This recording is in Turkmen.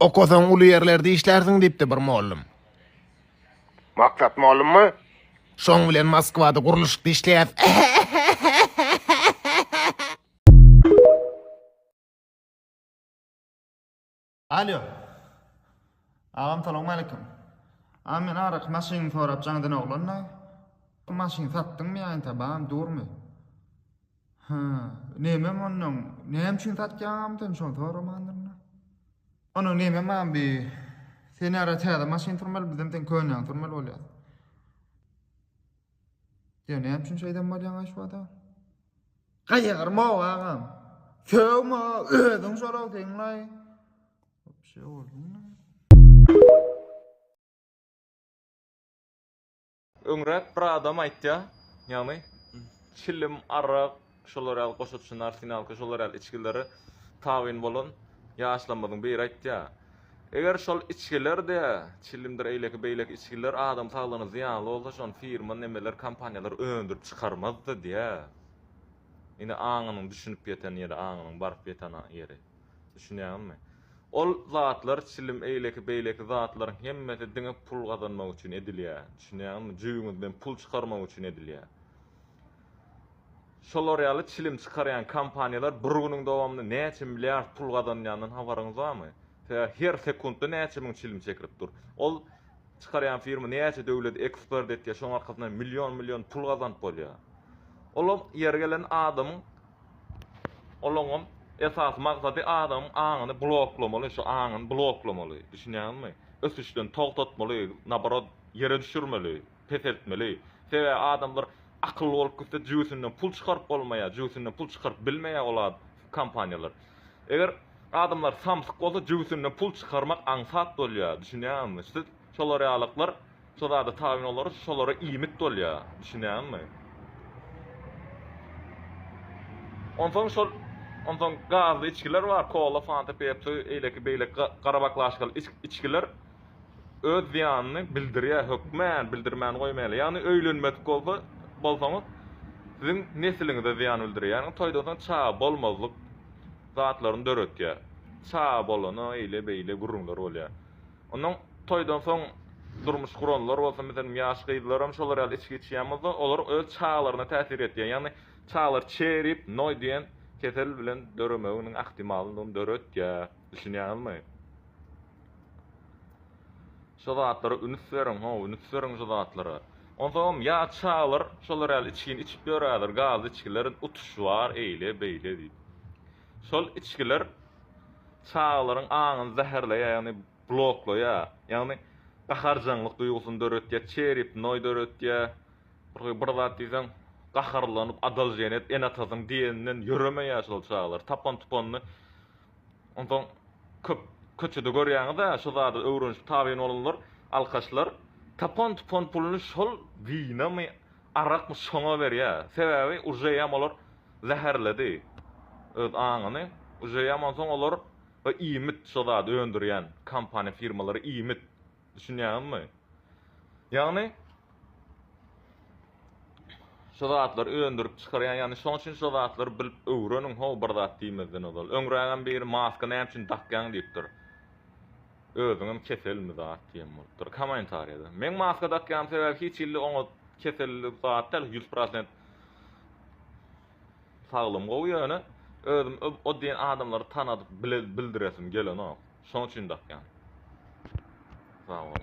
Okasaň uly ýerlerde işlärsiň, diýipdi bir mollum. Maksat mollummy? Şoň bilen Moskwada gurluşykda işleýäs. Alýo. Agam salowmaleýkim. A men araky maşynyňy sorapjaňdan oglan-da. Maşyny satdyňmy ýa entä bam, durmy? Hä, nämem onnoň, näme üçin satýaňam sen şony soramandyr-da. Onuň näme maňa bi Sen ýara täze maşyn sürmeli, bizem seň könäňi sürmeli bolýas. Ýa näme üçin şeýdem bolýaň aşwada? Gaýarma agam. Sögme, özüň şolag deňlaý. Şeýle boldumy? Öňräk bir adam aýtýa, ýagny çilim, arak, şolar ýaly goşaçyny, arsenalka, şolar ýaly içgilere tabyn bolan ýaşlarymyzyň biri aýtýa. Eger şol içgiler-de, çilimdir eýleki beýleki içgiler adam saglygyna zyýanly bolsa, şony firma nemeler, kompaniýalar öndürip çykarmazdy diýýä. Indi aňynyň düşünip ýeten ýeri, aňynyň baryp ýeten ýeri. Düşünýäňizmi? Ol zatlar, çilim, eýleki-beýleki zatlaryň hemmesi diňe pul gazanmak üçin edilýär. Düşünýäňizmi? Jübüňizden pul çykarmak üçin edilýär. Şolar ýaly çilim çykarýan kompaniýalar bir günüň dowamynda näçe milliard pul gazanýandan habaryňyz barmy? Sebäbi her sekuntda näçe müň çilim çekilip dur. Ol çykarýan firma näçe döwleti eksport etýär, şonuň arkasyndan million-million pul gazanyp bolýar. Olam ýeri gelende adamyň Olaňam esasy maksady adamyň aňyny bloklamaly, şu aňyny bloklamaly, düşünýäňizmi? Ösüşden togtatmaly, naborot, ýere düşürmeli, peseltmeli. Sebäbi adamlar akylly bolup gitse jübüsinden pul çykaryp bolmaýar, jübüsinden pul çykaryp bilmeýär ol kompaniýalar. Eger adamlar samsyk bolsa jübüsinden pul çykarmak aňsat bolýar, düşünýäňizmi? Siz şolar ýalyklar Şo zada tabyn olarys, şolara iýmit bolýar. Düşünýäňmi? Onsoň şol onsoň gazly içgiler bar, kola, fanta, pepsi, eýleki beýleki ga- garabaklaşkaly iç- içgiler öz zyýanyny bildirýär, hökmän bildirmän goýmaýarlar. Ýagny öýlenmedik bolsa, bolsaňyz, siziň nesliňize zyýan bildirýär. Ýagny toýdan soň çaga bolmazlyk zatlaryny döretýär. Çaga bolana eýle-beýle gürrüňler bolýar. Ondan toýdan soň durmuş guranlar bolsun, meselem, ýaş gyzlaram şolar ýaly içgi içýän bolsa, olar öz çagalaryna täsir etýär. Ýagny çagalar çerip, noý diýen kesel bilen döremeginiň ahtimalyndygyny döretýär. Düşünýäňizmi? Şo zatlara ünüs beriň, ho, ünüs beriň şo zatlara. Onsoňam ýaş çagalar şolar ýaly içgini içip ýörerler, gazly içgiler, utuş bar, eýle, beýle diýip. Şol içgiler çagalaryň aňyny zäherleýär, ýagny bloklaýar. Ýagny gaharjaňlyk duýgusyny döretýär, çeripnoý döretýär. Bir bir zat diýseň, gaharlanyp, adaljenet ene-atasynyň diýeninden ýöremeýär şol çagalar. Tapan-tupanyny onsoň köp köçede görýäňiz-ä, şu zady öwrenişip tabyn bolanlar alkaşlar tapan-tupan puluny şol wynamy, Arakmy şoňa berýä sebäbi ujeýam olar zäherledi öz aňyny ujeýam onsoň olar we iýmit şo zady öndürýän kompaniýa firmalary iýmit düşünýäňizmi ýagny şo zatlary öndürip çykarýan ýagny şoň üçin şo zatlary bilip öwreniň how bir zat diýmezden ozal öňrägem biri maska näme üçin dakýaň diýipdir. Özüňem keselmi zat diýen bolupdyr komentariýada. Meň maska dakýan sebäbi hiç hilli oňa keselli zat däl, 100% saglym gowy ýöne özüm o diýen adamlary tanadyp bildiresim gelenok. Şoň üçin dakýan. Sag boluň.